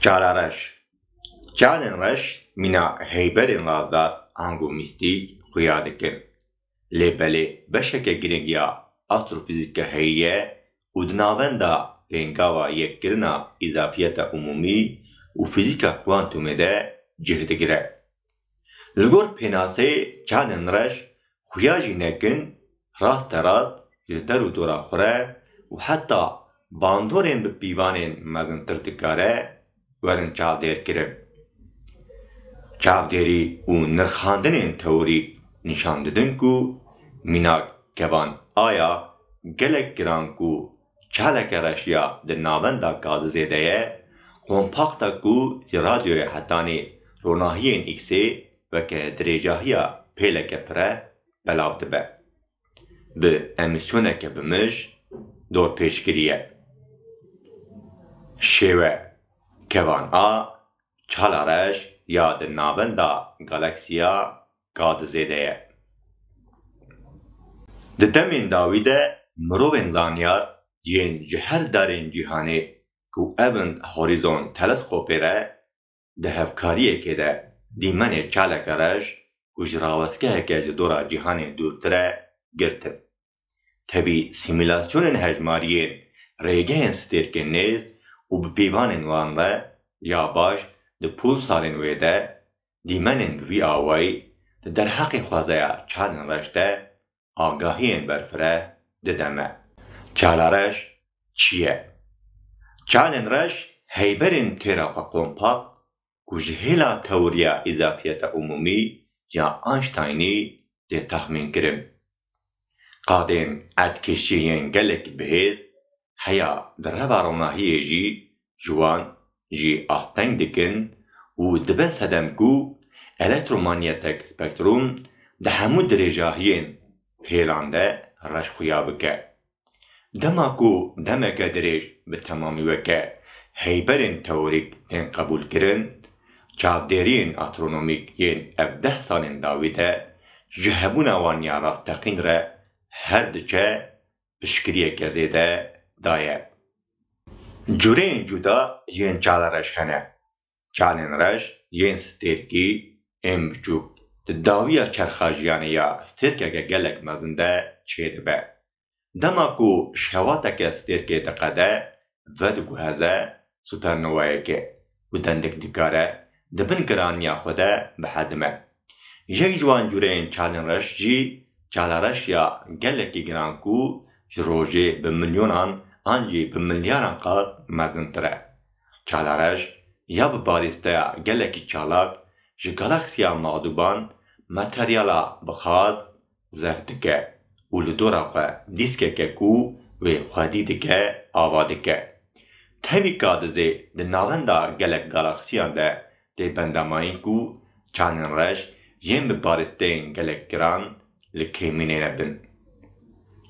Çala reş Çalên reş mîna heyberên razdar, angû mîstîk, xuya dikin. Lê belê beşeke girîng ya astrofîzîkê heye û di navenda pêngava yekkirina îzafiyeta umûmî û fîzîka kuantumê de cih digire. Li gor pênaseyê Caden Reş xuya jî nekin raste rast li der û dora xwe re û heta bandorên bi pîvanên mezintir dikare, werin çavdêrkirin. Çavdêrî û nirxandinên teorîk nîşan didin ku mînak kevan a ya gelek giran ku çaleke reş ya di navenda Gazizê de ye, kompaxta ku ji radyoya hetanê ronahiyên X-ê weke dirêjahiya pêleke pire belav dibe. bi emîsyoneke bi mij dorpêç kiriye. Şêwe kevan a Çalareş ya di navenda galaksiya K2 de ye. Di demên dawî de mirovên zanyar yên ji her darên cîhanê ku evn Horizon Teleskopê re di hevkariyekê de dîmenê çaleke rej û ji rawestgeheke ji dora cîhanê dûrtir e girtin. Tevî simîlasyonên hejmariyên rêgehên stêrkên nêz û bi pîvanên wan re ya baş di pulsarên wê de dîmenên bi vî awayî di derheqê xwezaya çalên rej de agahiyên berfireh dide me. Çala reş çi ye? Çalên reş heyberên têra xwe kompakt ku ji hêla tewriya îzafiyeta umûmî ya Einsteinî tê taxmînkirin. Qadên erdkişî yên gelekî bihêz heya di reva ronahiyê jî ji wan jî ah teng dikin û dibin sedem ku elektromanyetek spektrum di hemû dirêjahiyên hêlan de reş xuya bike. Dema ku demeke dirêj bi temamî weke heyberên teorîk tên qebûlkirin, çavdêriyên astronomîk yên ev deh salên dawî de ji hebûna wan ya rasteqîn re her diçe piştgiriyeke zêde daye. Cureyên cuda yên çala reş hene. Çalên reş yên stêrkî ên biçûk di dawiya çerxa jiyanê ya stêrkeke gelek mezin de çêdibe. Dema ku şevateke stêrkê diqede, vediguherre supernowayeke ku dendek dikare di bin giraniya xwe de bihedime. Yek ji wan cureyên çalên reş jî çala reş ya gelekî giran ku ji rojê bi milyonan an jî bi milyaran qat mezintir e. Çala reş ya bi balîsteya gelekî çalak ji galaksiya mexdûban materyala bi xaz Zef dike û li dora xwe dîskeke ku wê xwedî dike ava dike. Tevî Kadizê di navenda gelek galaksiyan de tê bendamayîn ku çandên reş yên bi barîsteyên gelek giran li keymînêne bin.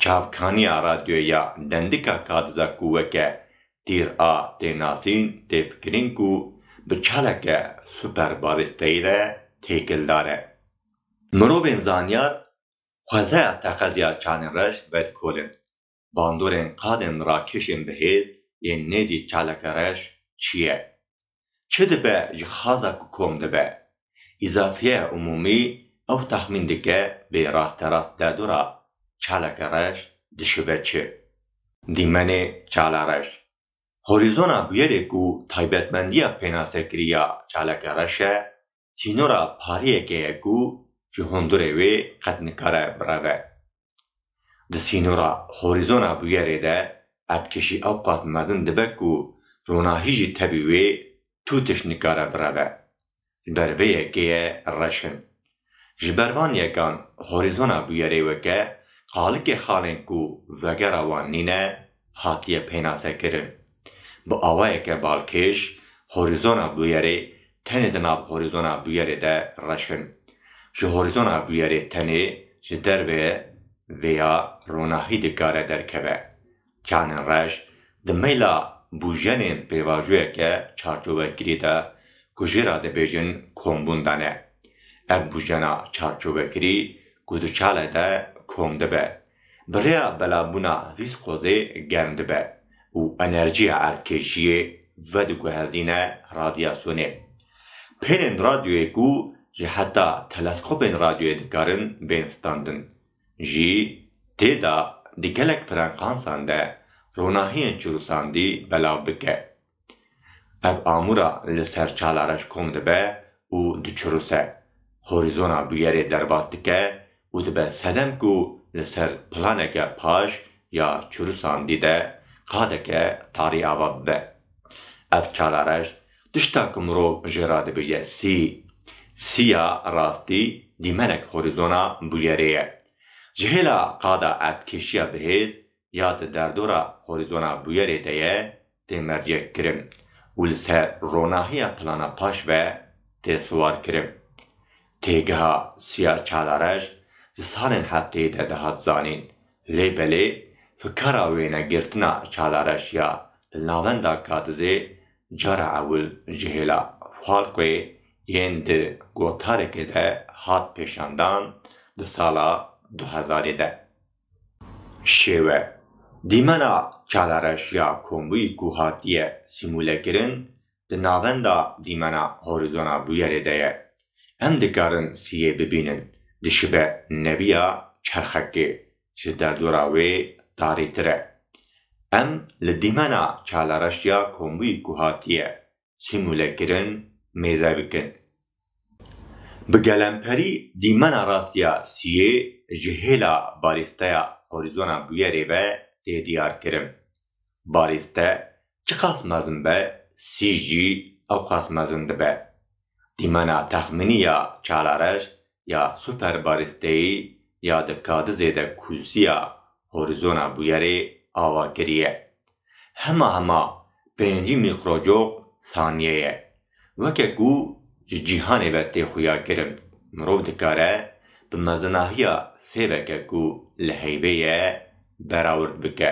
Çavkaniya radyoyê ya Dendika Kadiza ku weke tîr a tê nasîn tê fikirîn ku bi çaleke super barîsteyî re têkildar e. Mirovên zanyar xwezeya teqeziya çalên reş ber kolin, bandorên qadên rakişên bihêz yên nêzî çaleke reş çi ye, çi dibe ji xaza ku kom dibe. Îzafiye Umûmî ew texmîn dike bê rasterast derdora çaleke reş dişibe çi. Dîmenê çala reş, horîzona bûyerê ku taybetmendiya pênasekirî ya çaleke reş e, sînora pariyeke ye ku ji hundurê wê qet nikare bireve. Di sînora horîzona bûyerê de erdkêşî ewqas mezin dibe ku ronahî jî tevî wê tûtiş nikare bireve. Ji ber vê yekê ye reş in. Ji ber van yekan horîzona bûyerê weke qalikê xalên ku vegera wan nîne hatiye pênasekirin. Bi awayeke balkêş horîzona bûyerê tenê di nav horîzona bûyerê de reş in. Ji horîzona bûyerê tenê ji derve vêya ronahî dikare derkeve. Çanên reş di meyla bûjenên pêvajoyeke çarçovekirî de ku jê re dibêjin kombûn de ne. Ev bûjena çarçovekirî ku di çale de kom dibe, Bi rêya belabûna vîskozê germ dibe û enerjiya erdkêşiyê vediguhezîne radyasyonê. Pêlên radyoyê ku ji heta teleskopên radyoyê dikarin bên standin jî tê da di gelek frekansan de ronahiyên çirûsandî belav bike. Ev amûra li ser Çalareş kom dibe û diçiruse, horîzona bûyerê derbas dike û dibe sedem ku li ser planeke paş ya çirûsandî de qadeke tarî ava bibe. Ev Çalareş tişta ku mirov jê re dibêje sî. Sî ya rastî dîmenek horîzona bûyerê ye. Ji hêla qada erdkêşiya bihêz ya di derdora Horizona Bûyerê de ye tê mercekkirin û li ser ronahiya plana paş ve tê siwarkirin. Têgeha Siya Çalarej di salên hefteyê de dihat zanîn, lê belê fikara wênegirtina Çalarej ya li navenda Kadizê cara ewil ji hêla Falkoyê yên di gotarekê de hat pêşandan di sala du hezarê de. Şêwe, Dîmena çalareş ya kombûyî ku hatiye sîmûlekirin di navenda dîmena horizona bûyerê de ye. Em dikarin siyê bibînin, dişibe neviya çerxekê, ji derdora wê tarîtir e. Em li dîmena çalareş ya kombûyî ku hatiye sîmûle kirin, mêze bikin. Bi gelemperî dîmena rastiya siyê ji hêla barîsteya horîzona bûyerê ve tê diyarkirin. Barîste çiqas mezin be, sî jî ewqas mezin dibe. Dîmena texmînî ya çalarej ya superbarîsteyî ya di kadizê de kûlsiya horizona bûyerê ava kiriye. Hema hema pêncî mîkrocok saniye ye. Weke ku ji cîhanê ve tê xuya kirin, mirov dikare bi mezinahiya sêveke ku li heyvê ye berawird bike.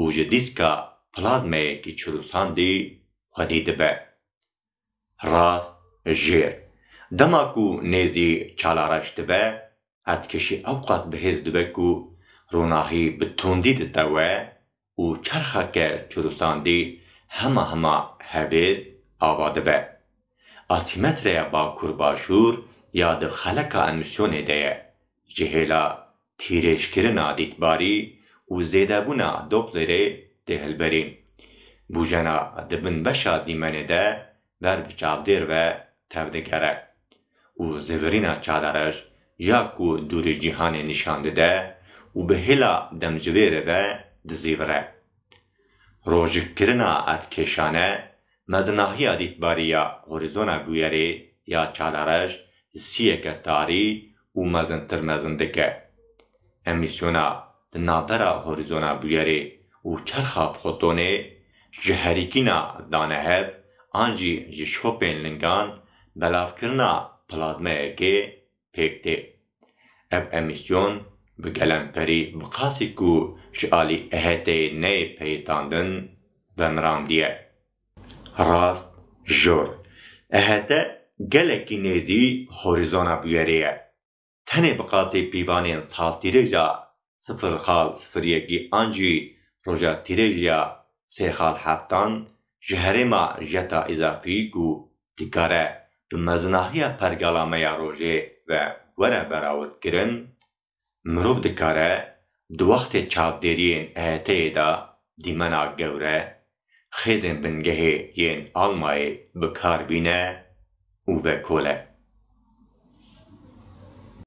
û ji dîska plazmayekî çirûsandî xwedî dibe. Rast, jêr. Dema ku nêzî çalareş dibe, erdkişî ewqas bihêz dibe ku ronahî bi tundî ditewe û çerxeke çirûsandî hema hema hevêr ava dibe. Asîmetreya bakur-başûr ya di xeleka emîsyonê de ye, ji hêla Tîrêjkirina dîtbarî û zêdebûna Dopplerê tê hilberîn. Bûjena di bin beşa dîmenê de ber bi çavdêr ve tev digere û zivirîna çadarej ya ku dûrî cîhanê nîşan dide û bi hêla demjivêrê ve dizîvire. Rojikirina erdkêşane Mezinahiya dîtbarî ya horizona bûyerê ya çalarej ji siyeke tarî û mezintir mezin dike. Emîsyona di navbera horizona bûyerê û çerxa fotonê ji herikîna danehev an jî ji şopên lingan belavkirina plazmeyekê pêk tê. Ev emîsyon bi gelemperî bi qasî ku ji alî EHT'ê neyê peyitandin vemirandiye. Rast jor, EHT gelekî nêzî Horizona bûyerê ye. Tenê bi qasî pîvanên saltîrê ja sifir xal sifir yekî an jî roja tîrêjiya sê xal heftan ji herêma jeta îzafî ku dikare bi mezinahiya pergala me ya rojê ve were berawitkirin, mirov dikare di wextê çavdêriyên EYT'ê de dîmena gewre xêzên bingehê yên Almayê bi kar bîne û vekole.